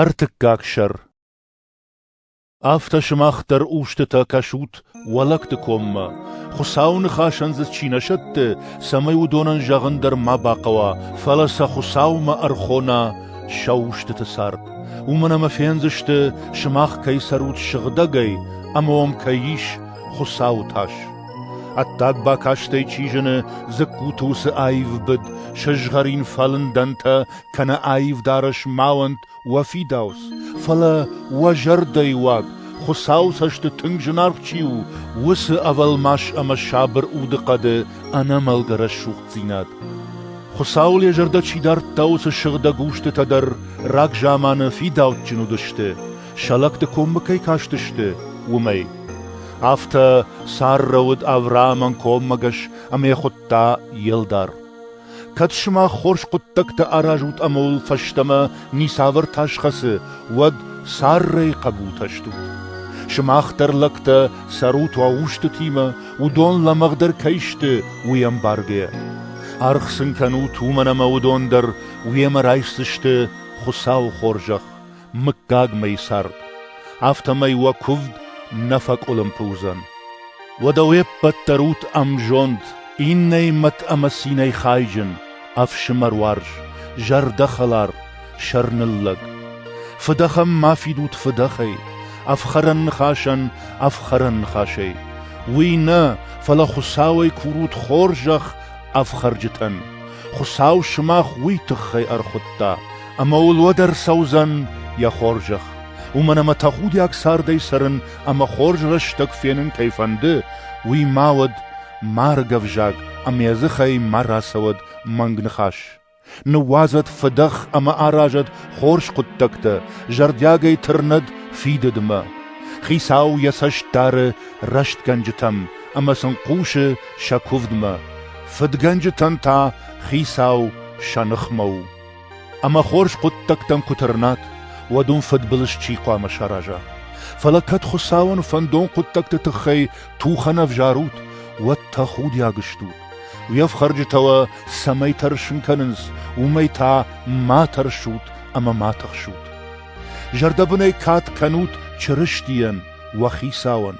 Ӕртыккаг сӕр Афтӕ сымах дӕр устытӕ кӕсут уӕлӕгты коммӕ, Хуыцауы ныхасӕн дзы чи нӕ сӕтты, цӕмӕй уыдонӕн зӕгъын дӕр ма бахъӕуа, фӕлӕ сӕ Хуыцаумӕ ӕрхона сӕ устыты цард. Уымӕн ӕмӕ фендзысты, сымах кӕй цӕрут сыгъдӕгӕй ӕмӕ уӕм кӕй ис Хуыцауы тас. Ӕддаг бакастӕй чи зыны, дзыккуты уыцы аив быд, сызгъӕрин фӕлындӕнтӕ кӕнӕ аив дарӕс ма уӕнт уӕ фидауц, фӕлӕ уӕ зӕрдӕйы уаг, Хуыцауы цӕсты тынг зынаргъ чи у, уыцы ӕвӕлмас ӕмӕ сабыр удыхъӕды ӕнӕмӕлгӕ рӕсугъддзинад. Хуыцауыл йӕ зӕрдӕ чи дардта, уыцы сыгъдӕг устытӕ дӕр рагзаманы фидауджын уыдысты, сӕ лӕгты коммӕ кӕй кастысты, уымӕй. Афтӕ Саррӕ уыд Авраамӕн коммӕгӕс ӕмӕ йӕ хуыдта Елдар. Кӕд сымах хорз хъуыддӕгтӕ аразут ӕмӕ уыл фӕстӕмӕ ницавӕр тас хӕцы, уӕд Саррӕйы хъӕбултӕ стут. Сымах дӕр лӕгтӕ цӕрут уӕ устытимӕ, уыдон лӕмӕгъдӕр кӕй сты, уый ӕмбаргӕ. Аргъ сын кӕнут уымӕн ӕмӕ уыдон дӕр уемӕ райсдзысты Хуыцауы хорзӕх, мыггагмӕ цард, афтӕмӕй уӕ куывд нӕ фӕкъуылымпы уыдзӕн. Уӕдӕ уе ппӕт дӕр ут ӕмзонд, иннӕимӕт ӕмӕ цинӕй хайджын, ӕфсымӕр уарз, зӕрдӕхӕлар, сӕрныллӕг. Фыдӕхӕн ма фидут фыдӕхӕй, ӕфхӕрӕн ныхасӕн ӕфхӕрӕн ныхасӕй. Уый нӕ, фӕлӕ Хуыцауӕй курут хорзӕх ӕфхӕрджытӕн. Хуыцау сымах уый тыххӕй ӕрхуыдта, ӕмӕ уыл уӕд ӕрцӕудзӕн йӕ хорзӕх. Уымӕн ӕмӕ тӕхудиаг цардӕй цӕрын ӕмӕ хорз рӕстӕг фенын кӕй фӕнды, уый ма уӕд марг ӕвзаг ӕмӕ йӕ дзыхӕй ма рацӕуӕд мӕнг ныхас. Ныууадзӕд фыдӕх ӕмӕ аразӕд хорз хъуыддӕгтӕ, зӕрдиагӕй тырнӕд фидыдмӕ. Хицау йӕ цӕст дары рӕстгӕнджытӕм ӕмӕ сын хъусы сӕ куывдмӕ. Фыдгӕнджытӕн та Хицау сӕ ныхмӕ у. Ӕмӕ хорз хъуыддӕгтӕм куы тырнат, уӕд уын фыдбылыз чи хъуамӕ сараза. Фӕлӕ кӕд Хуыцауӕн фӕндон хъуыддӕгты тыххӕй тухӕн ӕвзарут, уӕд тӕхудиаг стут. Уе фхӕрджытӕ уӕ цӕмӕй тӕрсын кӕнынц, уымӕй та ма тӕрсут ӕмӕ ма тыхсут. Зӕрдӕбынӕй кад кӕнут Чырыстийӕн, уӕ Хицауӕн.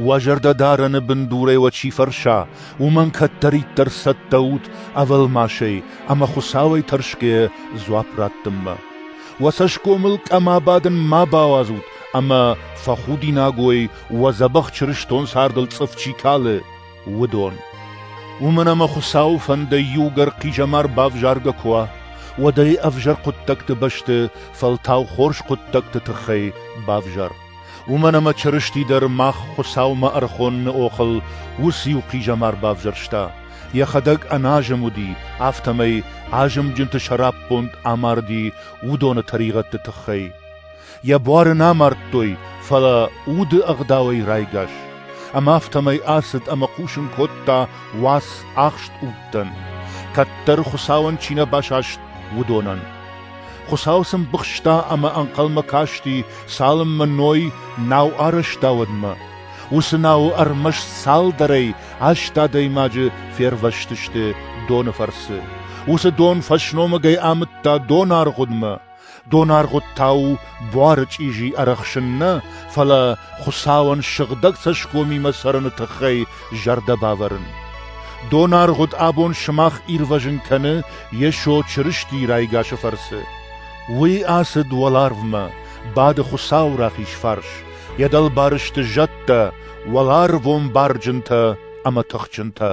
Уӕ зӕрдӕдарӕны бындурӕй уӕ чи фӕрса, уымӕн кӕддӕриддӕр цӕттӕ ут ӕвӕлмасӕй ӕмӕ Хуыцауӕй тӕрсгӕйӕ дзуапп раттынмӕ. Уӕ цӕсгомыл къӕм абадын ма бауадзут ӕмӕ фӕхудинаг уой, уӕ дзӕбӕх чырыстон цардыл цъыф чи калы, уыдон. Уымӕн ӕмӕ Хуыцауы фӕндӕй иугӕр хъизӕмар бавзаргӕ куы уа, уӕд ӕй ӕвзӕр хъуыддӕгты бӕсты фӕлтау хорз хъуыддӕгты тыххӕй бавзар. Уымӕн ӕмӕ Чырысти дӕр мах Хуыцаумӕ ӕрхоныны охыл уыцы-иу хъизӕмар бавзӕрста, йӕхӕдӕг ӕназым уыди, афтӕмӕй азымджынты сӕраппонд амарди уыдоны тӕригъӕдты тыххӕй. Йӕ буары нӕ амардтой, фӕлӕ уды ӕгъдауӕй райгас, ӕмӕ афтӕмӕй ацыд ӕмӕ хъусын кодта уац ахст удтӕн, кӕддӕр Хуыцауӕн чи нӕ басаст, уыдонӕн. Хуыцау сын быхста ӕмӕ ӕнхъӕлмӕ касти, цалынмӕ Ной нау арӕзта уӕдмӕ. Уыцы науы ӕрмӕст цалдӕрӕй аст адӕймаджы фервӕзтысты доны фӕрцы. Уыцы дон фӕсномыгӕй амыдта донаргъуыдмӕ. Донаргъуыд та у буары чъизи ӕрӕхсын нӕ, фӕлӕ Хуыцауӕн сыгъдӕг цӕсгомимӕ цӕрыны тыххӕй зӕрдӕ бавӕрын. Донаргъуыд абон сымах ирвӕзын кӕны Йесо Чырыстийы райгасы фӕрцы. Уый ацыд уӕларвмӕ, бады Хуыцауы рахиз фарс, йӕ дӕлбары сты зӕдтӕ, уӕларвон барджынтӕ ӕмӕ тыхджынтӕ.